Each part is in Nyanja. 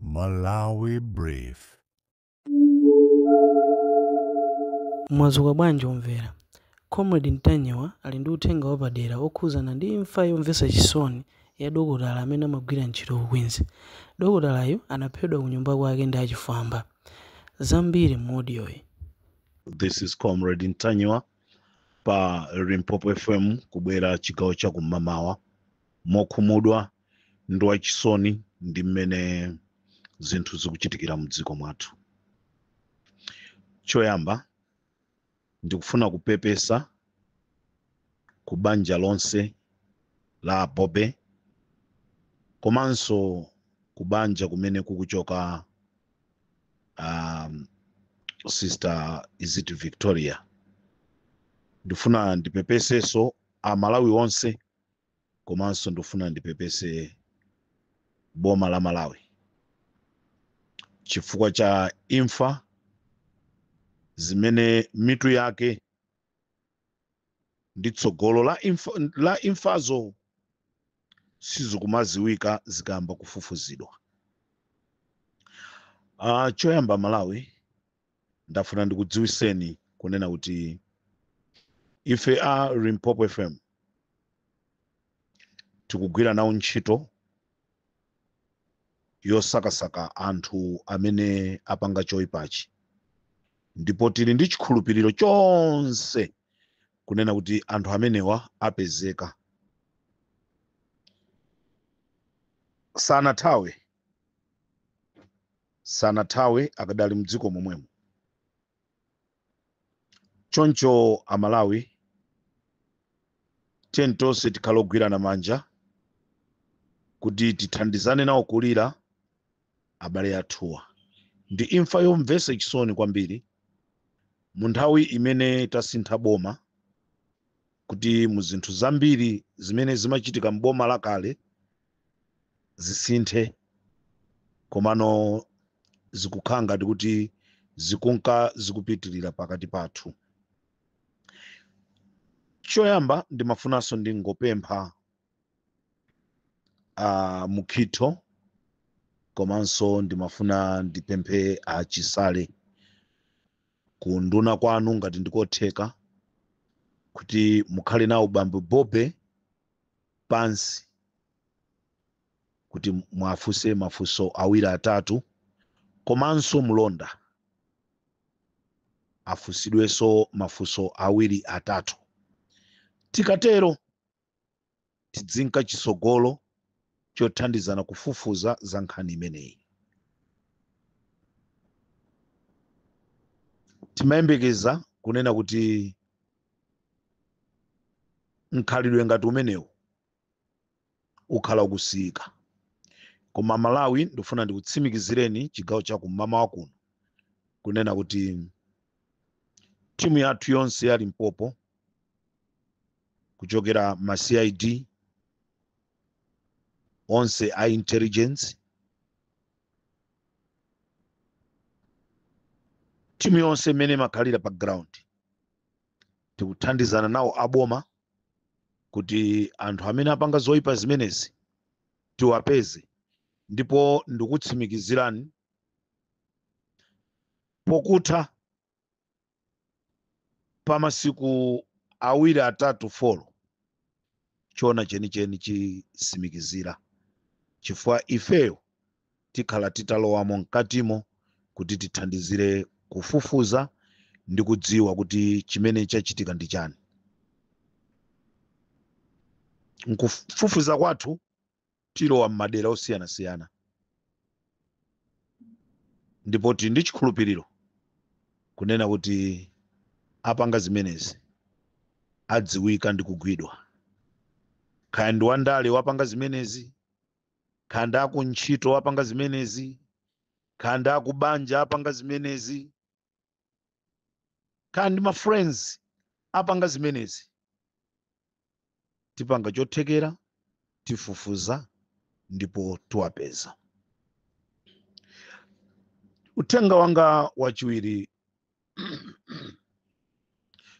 Malawi Brief. Mwadzuka bwanji omvera? Comrade Ntanyiwa ali ndi uthenga wapadera okhudzana ndi imfa yomvetsa chisoni ya dokotala amene amagwira ntchito ku Queens. Dokotalayu anaphedwa kunyumba kwake ndi achifwamba. Zambiri mu audio yi. This is Comrade Ntanyiwa pa Limpopo FM kubwera chigawo cha kum'mamawa mokhumudwa ndi wachisoni ndi mmene zinthu zikuchitikira mu dziko mwathu choyamba ndikufuna kupepesa ku banja lonse la bobe komanso ku banja kumene kukuchoka um, sister is it victoria ndifuna ndipepeseso amalawi onse komanso ndikufuna ndipepese boma la malawi chifukwa cha imfa zimene mitu yake ndi tsogolo la imfazo sizikumaziwika zikayamba kufufuzidwa uh, choyamba malawi ndafuna ndikudziwiseni kunena kuti ife a limpopo fm tikugwira nawo ntchito yosakasaka anthu amene apanga choyipachi ndipo tili ndi chikhulupiriro chonse kunena kuti anthu amenewa apezeka sanathawe sanathawe akadali mdziko momwemo choncho amalawi tiyeni tonse tikhale ogwirana manja kuti tithandizane nawo kulira abale athuwa ndi imfa yomvesa chisoni kwambiri mu nthawi imene tasintha boma kuti mu zinthu zambiri zimene zimachitika m'boma lakale zisinthe komano zikukhala ngati kuti zikunka zikupitirira pakati pathu choyamba ndimafunanso ndingopempha a Mukhitho komanso ndimafuna ndipemphe a Chisale kunduna kwanu ngati ndikotheka kuti mukhale nawo bambo Bobe pansi kuti muwafunse mafunso awiri atatu komanso mlonda afunsidwenso mafunso awiri atatu. Tikatero tidzinka chitsogolo chothandizana kufufuza za nkhani imeneyi. Timayembekeza kunena kuti mkhalidwe ngati umenewu ukhala ukusiyika koma malawi ndifuna ndikutsimikizireni chigawo cha kum'mawa kuno kunena kuti timu yathu yonse ya limpopo kuchokera ma cid onse a intelligence timu yonse imene imakhalira pa ground tikuthandizana nawo aboma kuti anthu amene apanga zoyipa zimenezi tiwapeze ndipo ndikutsimikizirani pokutha pa masiku awiri atatu folo choona chenicheni chisimikizira chifukwa ifeyo tikhala titalowamo mkatimo kuti tithandizire kufufuza ndi kudziwa kuti chimene chachitika ndi chani nkufufuza kwathu tilowa m'madera osiyanasiyana ndipo tili ndi chikhulupiriro kunena kuti apanga zimenezi adziwika ndi kugwidwa kaya ndi wandale wapanga zimenezi kaya ndi akuntchito apanga zimenezi kaya ndi akubanja apanga zimenezi kaya ndi ma friends apanga zimenezi tipanga chothekera tifufuza ndipo tiwapeza uthenga wanga wachiwiri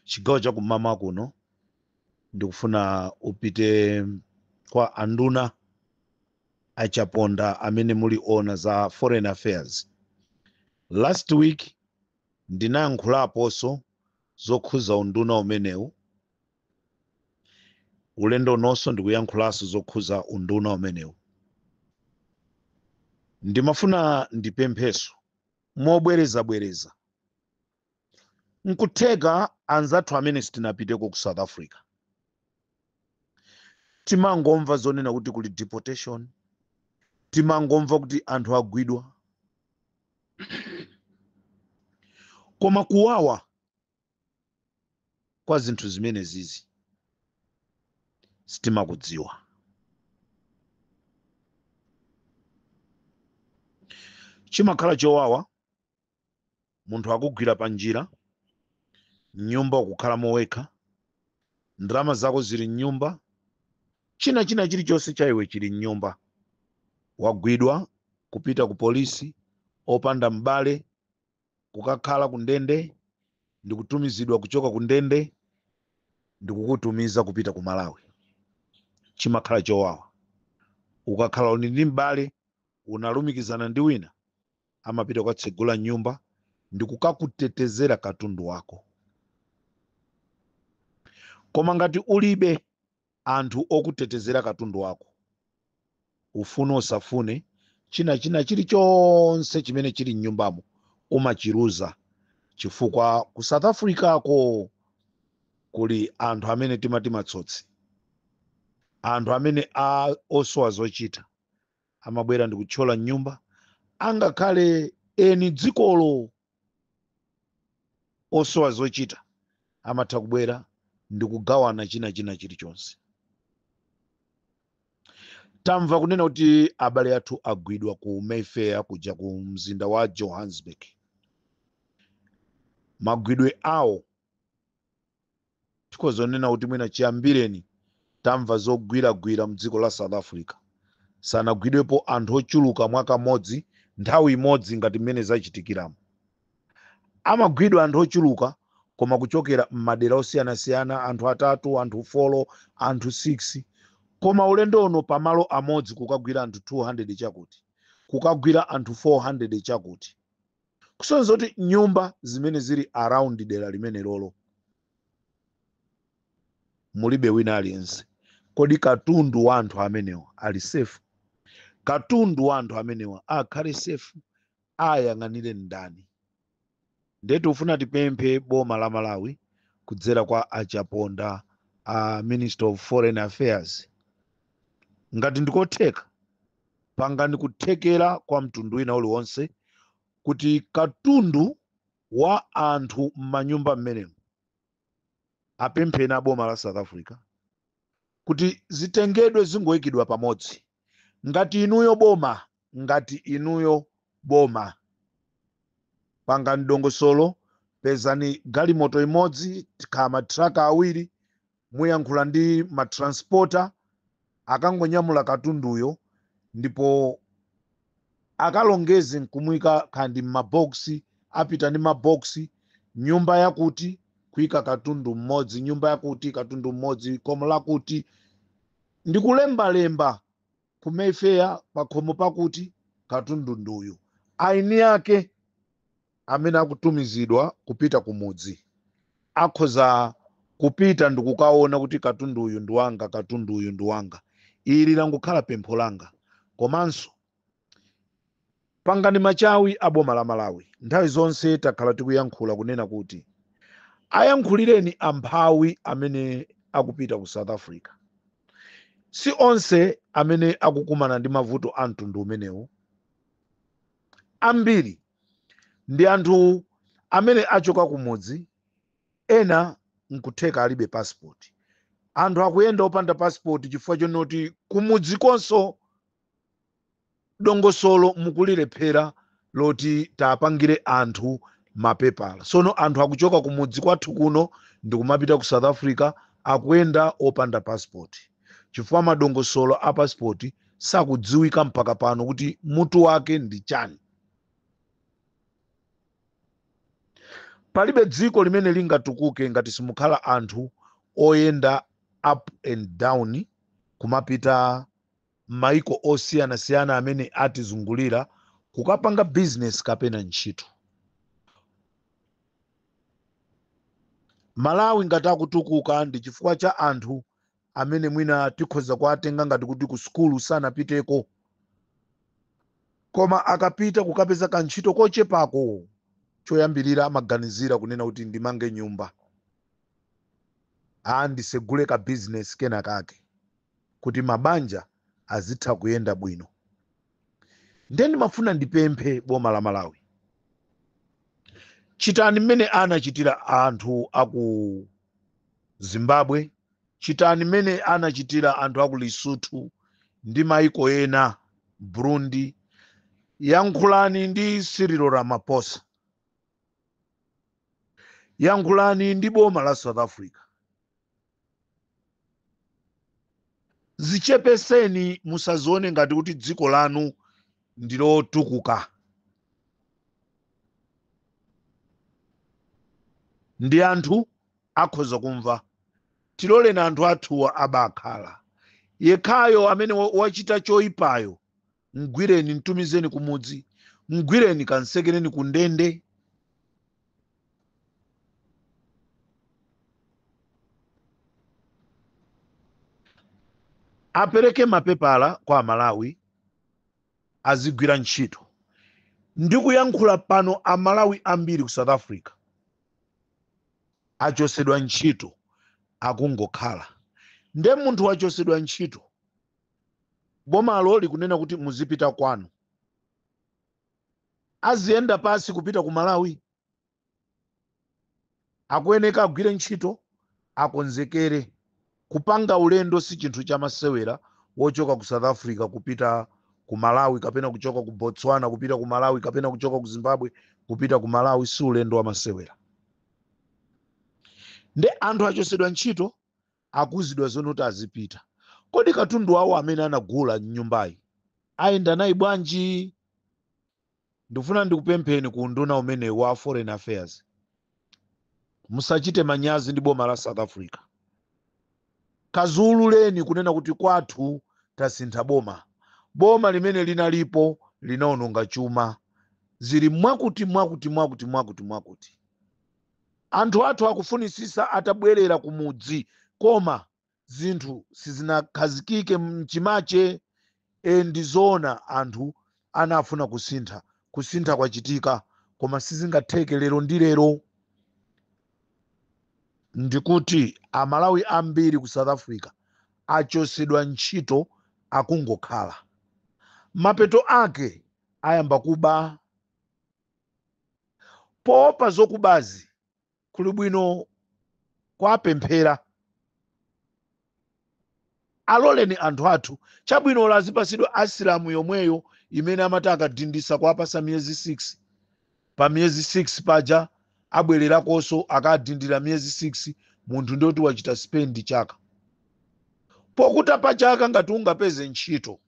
chigawo cha kum'mawa kuno ndikufuna upite kwa anduna a Chaponda amene muli oona za foreign affairs last week ndinayankhulaponso zokhuza unduna umenewu ulendo unonso ndikuyankhulanso zokhuza unduna umenewu ndimafuna ndipempheso mobwerezabwereza nkutheka anzathu amene sitinapiteko ku south africa timangomva zonena kuti kuli deportation timangomva kuti anthu agwidwa koma kuwawa kwa zinthu zimene zizi sitimakudziwa chimakhala chowawa munthu akugwira pa njira mnyumba ukukhala mo wekha ndalama zako zili mnyumba china china chilichonse cha iwe chili mnyumba wagwidwa kupita ku polisi opanda m'bale kukakhala ku ndende ndi kutumizidwa kuchoka ku ndende ndi kukutumiza kupita ku malawi chimakhala chowawa ukakhala uli ndi m'bale unalumikizana ndi wina amapita kukatsegula nyumba ndi kukakutetezera katundu wako koma ngati ulibe anthu okutetezera katundu wako, ufune usafune, china china chilichonse chimene chili mnyumbamo umachiluza chifukwa ku south africa ko kuli anthu amene timati matsotsi anthu amene osowa zochita amabwera ndikutchola mnyumba angakhale eni dzikolo osowa zochita amatha kubwera ndi kugawana china china chilichonse tamva kunena kuti abale athu agwidwa ku mayfair kuja ku mzinda wa johannesburg magwidwe awo tikhoza kunena kuti mwina chiyambireni tamva zogwiragwira mdziko la south africa sanagwidwepo anthu ochuluka mwakamodzi nthawi imodzi ngati mmene zachitikiramo amagwidwa anthu ochuluka koma kuchokera m'madera osiyanasiyana anthu atatu anthu folo anthu 6 koma ulendo uno pamalo amodzi kukagwira anthu 200 chakuti kukagwira anthu 400 chakuti kusonyeza kuti nyumba zimene zili around dera limenelolo mulibe wina aliyense kodi katundu wa anthu amenewa ali safe katundu wa anthu amenewa akhale safe ayang'anire ndani ndiye tikufuna tipemphe boma la malawi kudzera kwa a chaponda a minister of foreign affairs ngati ndikotheka pangani kuthekera kwa mtundu wina uliwonse kuti katundu wa anthu m'manyumba mmenemo apempheni a boma la south africa kuti zitengedwe zingoyikidwa pamodzi ngati inuyo boma ngati inuyo boma pangani dongosolo pezani galimoto imodzi kaya matraka awiri Muyankhula ndi ma transporter akangonyamula katunduyo ndipo akalongeze nkumuika kaya ndi mma box, apita ndi ma box, nyumba yakuti kuika katundu mmodzi, nyumba yakuti katundu mmodzi, khomo lakuti, ndikulembalemba. ku mayfair pakhomo pakuti katundu nduyu eni ake amene akutumizidwa kupita kumudzi akhoza kupita ndikukaona kuti katundu uyu ndi wanga katundu uyu ndi wanga ili langokhala pempho langa komanso Pangani machawi a boma la Malawi. Nthawi zonse takhala tikuyankhula kunena kuti ayankhulireni amphawi amene akupita ku South Africa. Si onse amene akukumana ndi mavuto a mtundu umenewu. Ambiri ndi anthu amene achoka kumudzi, ena nkutheka alibe passport. Anthu akuyenda opanda passport chifukwa chonoti kumudzikonso dongosolo mukulilephera loti tiwapangire anthu mapepala sono anthu akuchoka kumudzi kwathu kuno ndikumapita ku south africa akuyenda opanda passport chifukwa madongosolo a passport sakudziwika mpaka pano kuti mutu wake ndi chani palibe dziko limene lingatukuke ngati simukhala anthu oyenda up and down kumapita m'mayiko osiyanasiyana amene atizungulira kukapanga bizinesi kapena ntchito. Malawi ngati akutukuka ndi chifukwa cha anthu amene mwina tikhoza kuwatenga ngati kuti ku sukulu sanapiteko, koma akapita kukapeza kantchito kochepako, choyambirira amaganizira kunena kuti ndimange nyumba, aa ndisegule ka bizinesi kenakake. kuti mabanja azitha kuyenda bwino nde ndimafuna ndipemphe boma la malawi chitani mmene anachitira anthu aku zimbabwe chitani mmene anachitira anthu aku lesotho ndi maiko ena burundi yankhulani ndi cyril ramaphosa yankhulani ndi boma la south africa Zichepetseni musazione ngati kuti dziko lanu ndilotukuka. Ndi anthu akhoza kumva. Tiloleni anthu athuwa abakhala. Yekhayo amene wachita choipayo mgwireni mtumizeni kumudzi mgwireni kansekereni ku ndende apereke mapepala kwa amalawi azigwira ntchito ndikuyankhula pano amalawi ambiri ku south africa achosedwa ntchito akungokhala nde munthu wachosedwa ntchito Bomalo likunena kuti muzipita kwanu. Aziyenda pasi kupita ku Malawi? Akuyeneka agwire ntchito, akonzekere. Kupanga ulendo si chinthu cha masewera wochoka ku South Africa kupita ku Malawi kapena kuchoka ku Botswana kupita ku Malawi kapena kuchoka ku Zimbabwe kupita ku Malawi si ulendo wa masewera. Nde anthu achosedwa ntchito Akuuzidwa zonoti azipita. Kodi katundu wawo amene anagula m'nyumbayi ayenda naye bwanji? Ndikufuna ndikupempheni ku unduna umene wa Foreign Affairs, musachite manyazi ndi boma la South Africa. Kaziuleleni kunena kuti kwathu tasintha boma. Boma limene linalipo linaononga chuma. Zili mwakuti mwakuti mwakuti mwakuti mwakuti. Anthu athu akufunisisa atabwerera kumudzi koma zinthu sizinakhazikike mchimache ee ndizoona anthu anafuna kusintha kusintha kwachitika koma sizingatheke lero ndi lero ndikuti amalawi ambiri ku south africa achosedwa ntchito akungokhala mapeto ake ayamba kuba poopa zokubazi kuli bwino kwapemphera aloleni anthu athu chabwino azipasidwa asilamu yomweyo imene amati akadindisa kuwapasa miyezi 6 pa miyezi 6 paja abwererakonso akadindira miyezi 6 munthu ndioti wachita spendi chaka pokuta pa chaka ngati ungapeze ntchito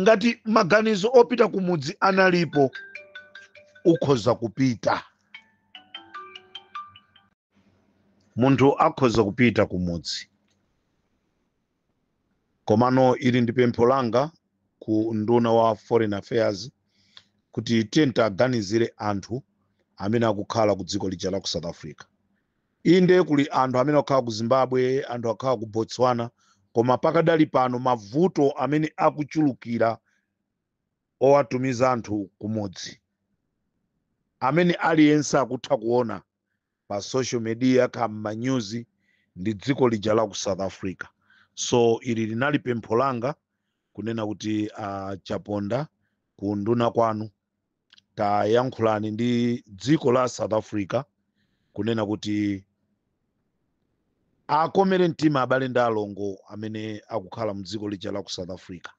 ngati maganizo opita kumudzi analipo ukhoza kupita munthu akhoza kupita kumudzi komano ili ndi pempho langa ku nduna wa foreign affairs kuti tiyeni aganizire anthu amene akukhala ku dziko lija la ku south africa Inde kuli anthu amene akukhala ku Zimbabwe, anthu akukhala ku Botswana koma pakadali pano mavuto amene akuchulukira owatumiza anthu kumudzi amene aliyense akutha kuona pa social media kaya m'manyuzi ndi dziko lija la ku South Africa. So ili linali pempho langa kunena kuti a Chaponda ku unduna kwanu tayankhulani ndi dziko la south africa kunena kuti akomere mtima abale ndi alongo amene akukhala mdziko lija la ku south africa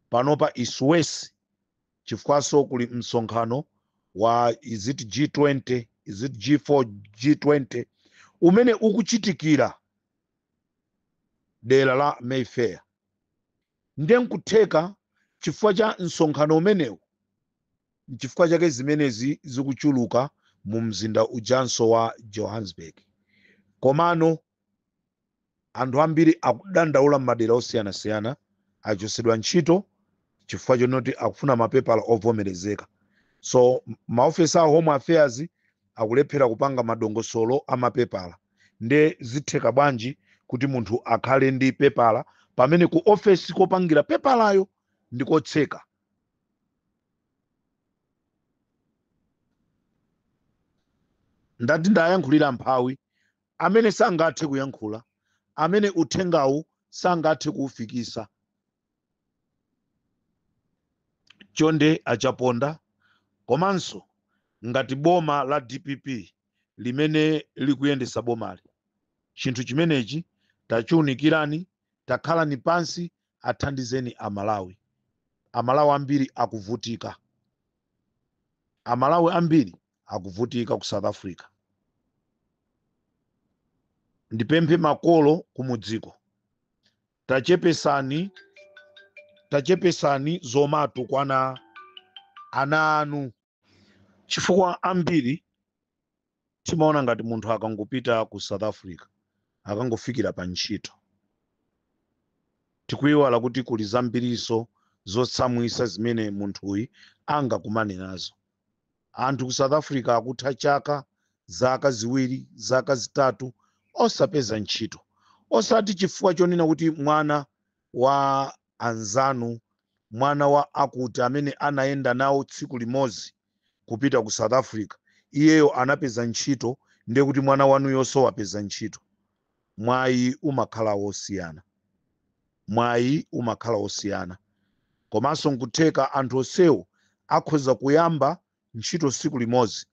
panopa it's worse chifukwanso kuli msonkhano wa is it g20 is it g4 g20 umene ukuchitikira dera la mayfair Ndiye n'kutheka chifukwa cha msonkhano umenewu n'chifukwa chake zimenezi zikuchuluka mumzinda ujanso wa Johannesburg. Komano anthu ambiri akudandaula m'madera osiyanasiyana, achotsedwa ntchito chifukwa chonoti akufuna mapepala ovomerezeka. So maofesi a Home Affairs akulephera kupanga madongosolo a mapepala nde zitheka bwanji kuti munthu akhale ndi pepala pamene ku ofesi kopangira pepalayo ndi kotseka ndati ndayankhulira mphawi amene sangathe kuyankhula amene uthengawu sangathe kuufikisa chonde achaponda komanso ngati boma la dpp limene likuyendesa bomali chinthu chimenechi tachiunikirani takhalani pansi athandizeni amalawi amalawi ambiri akuvutika amalawi ambiri akuvutika ku south africa ndipemphe makolo kumudziko Eee tachepesani zomatukwana ana anu chifukwa ambiri timaona ngati munthu akangopita ku south africa akangofikira pa ntchito tikuiwala kuti kuli zambirinso zotsamwisa zimene munthuyi angakumane nazo Anthu ku South Africa akutha chaka, zaka ziwiri, zaka zitatu osapeza ntchito. Osati chifukwa chonena kuti mwana wa anzanu, mwana wa akuti amene anayenda nawo tsiku limodzi kupita ku South Africa, iyeyo anapeza ntchito ndiye kuti mwana wanuyonso wapeza ntchito. mwayi umakhala wosiyana mwayi umakhala wosiyana komanso nkutheka anthu onsewo akhoza kuyamba ntchito tsiku limodzi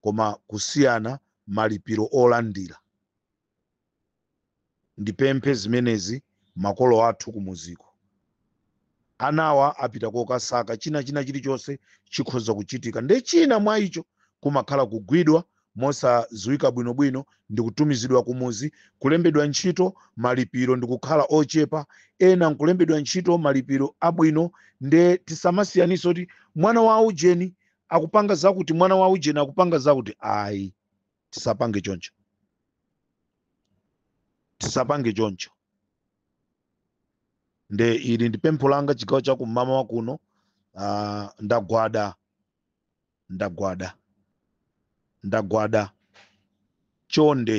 koma kusiyana malipiro olandira ndipemphe zimenezi makolo athu kumuziko anawa apita kokasaka china china chilichonse chikhoza kuchitika nde china mwa icho kumakhala kugwidwa mosadziwika bwinobwino ndikutumizidwa kumuzi kulembedwa ntchito malipiro ndikukhala ochepa ena nkulembedwa ntchito malipiro abwino nde tisamasiyanitse kuti mwana wa ujeni akupanga zakuti mwana wa ujeni akupanga zakuti ayi tisapange choncho tisapange choncho nde ili ndi pempho langa chigawo cha kum'mawa kuno ah, ndagwada ndagwada ndagwada chonde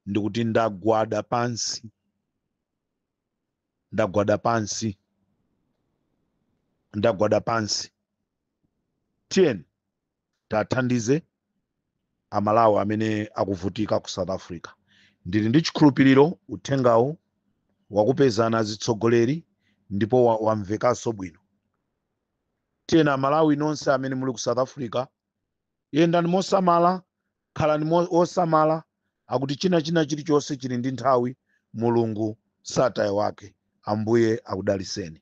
ndikuti ndagwada pansi ndagwada pansi ndagwada pansi tiyeni tathandize amalawi amene akuvutika ku south africa ndili ndi chikhulupiriro uthengawu wakupezani atsogoleri ndipo wa- wamvekanso bwino tiyeni amalawi nonse amene muli ku south africa yendani mosamala khalani mo- osamala akuti china china chilichonse chili ndi nthawi mulungu sataya wake ambuye akudaliseni